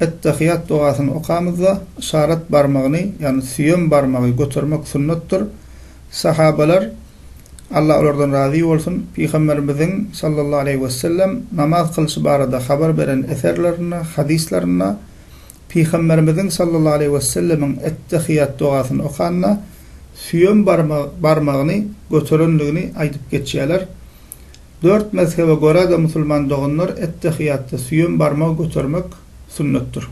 Ettehiýat dogasyny okamyzda, yşarat barmagyny, ýagny süýem barmagy götermek sünnetdir. Sahabalar, Allah olardan razy bolsun, Pygamberimiziň, sallallahu aleýhi we sellem, namaz kylyşy barada habar beren eserlerinde, hadyslarynda, Pygamberimiziň, sallallahu aleýhi we sellemiň, ettehiýat dogasyny okanda, süýem barmagyny göterendigini aýdyp geçýärler. Dört mezhebe görä-de musulman doganlar ettehiýatda süýem barmagy götermek sünnetdir.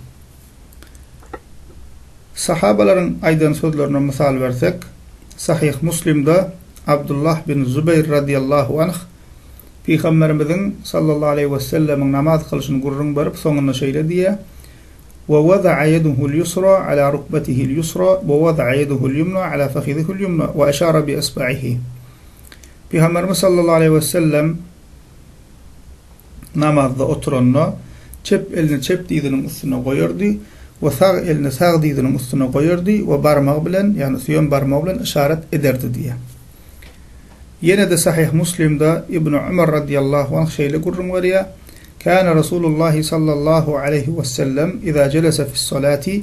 Sahabalaryň aýdan sözlerine mysal bersek, Sahyh Muslimde Abdullah bin Zubeýr radyýallahu anh Pygamberimiziň, sallallahu aleýhi we sellemiň, namaz kylyşyny gürrüň berip, soňunda şeýle diýýär, Wa wada'a ýeduhul ýusra ala rukbatihil ýusra wa wada'a ýeduhul ýumna ala fakhidihil ýumna wa eşara bi isba'ihi. Pygamberimiz sallallahu aleýhi we sellem namazda oturanda, çep elini çep dyzynyň üstüne goýardy we sag elini sag dyzynyň üstüne goýardy we barmagy bilen, ýagny süýem barmagy bilen yşarat ederdi diýýär. Ýene-de Sahyh Muslimde Ibnu Umar radiýallahu anh şeýle gürrüň berýär, Kana Rasulullahi sallallahu aleýhi we sellem iza jelese fis-salati,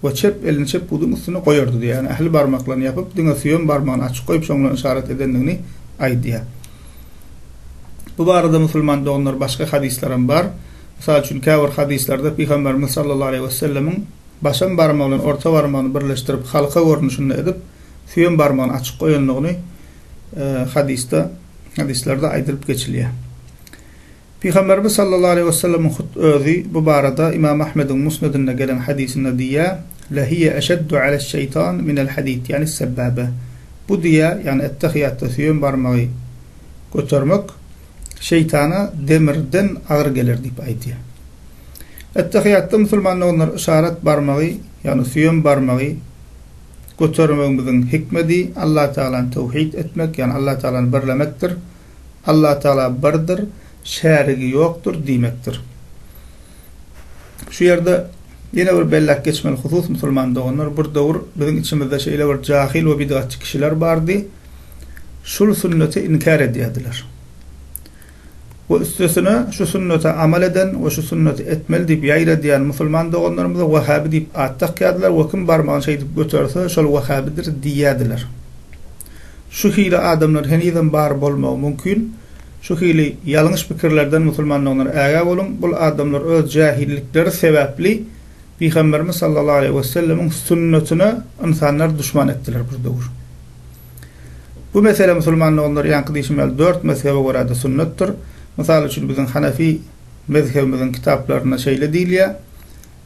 we çep elini çep buduň üstüne goýardy, ýagny ähli barmaklaryny ýapyp, diňe süýem barmagyny açyk goýup, şoň bilen yşarat edendigini aýdýar. Bu barada musulman doganlar başga hadyslaram bar. Mysal üçin, käbir hadyslarda Pygamberimiz sallallahu aleýhi wesellemiň başam barmagy bilen orta barmagyny birleşdirip, halka görnüşinde edip, süýem barmagyny açyk goýandygyny hadysda, hadyslarda aýdylyp geçilýär. Pygamberimiz sallallahu aleýhi we sellemiň hut özi bu barada Ymam Ahmediň Musnedinde gelen hadysynda diýýär, Lehiýe eşeddu aleş-şeýtan minel-hadid ýani's-sebbäbe, Bu diýe, ýagny ettehiýatda süýem barmagy götermek, şeýtana demirden agyr geler diýip aýdýar. Ettehiýatda musulman doganlar yşarat barmagy, ýagny süýem barmagy götermegimiziň hikmedi Allatagala towhid etmek, ýagny Allattagalany birlemekdir. Allatagala birdir, şärigi ýokdur diýmekdir. Şu ýerde ýene bir belläp geçmeli husus, musulman doganlar, bir döwür biziň içimizde şeýle bir jahyl we bidgatçy kişiler bardy, şul sünneti inkär edýärdiler. We üstesine şu sünnete amal eden we şu sünneti etmeli diýip ýaýradýan musulman doganlarymyza wahhabi diýip at dakýardylar we kim barmagyny şeýdip göterse, şol wahhabidir diýýärdiler. Şu hili adamlar henizem bar bolmagy mümkin. Şu hili ýalňyş pikirlerden musulmandygyňdan ägä boluň. Bul adamlar öz jähillikleri sebäpli Pygamberimiz sallallahu aleýhi we sellemiň sünnetine ynsanlar duşman etdiler bir döwür. Bu mesele musulman doganlar ýaňky diýşim ýaly dört mezhebe görä-de sünnetdir. Mysal üçin biziň Hanefi mezhebimiziň kitaplarynda şeýle diýilýär.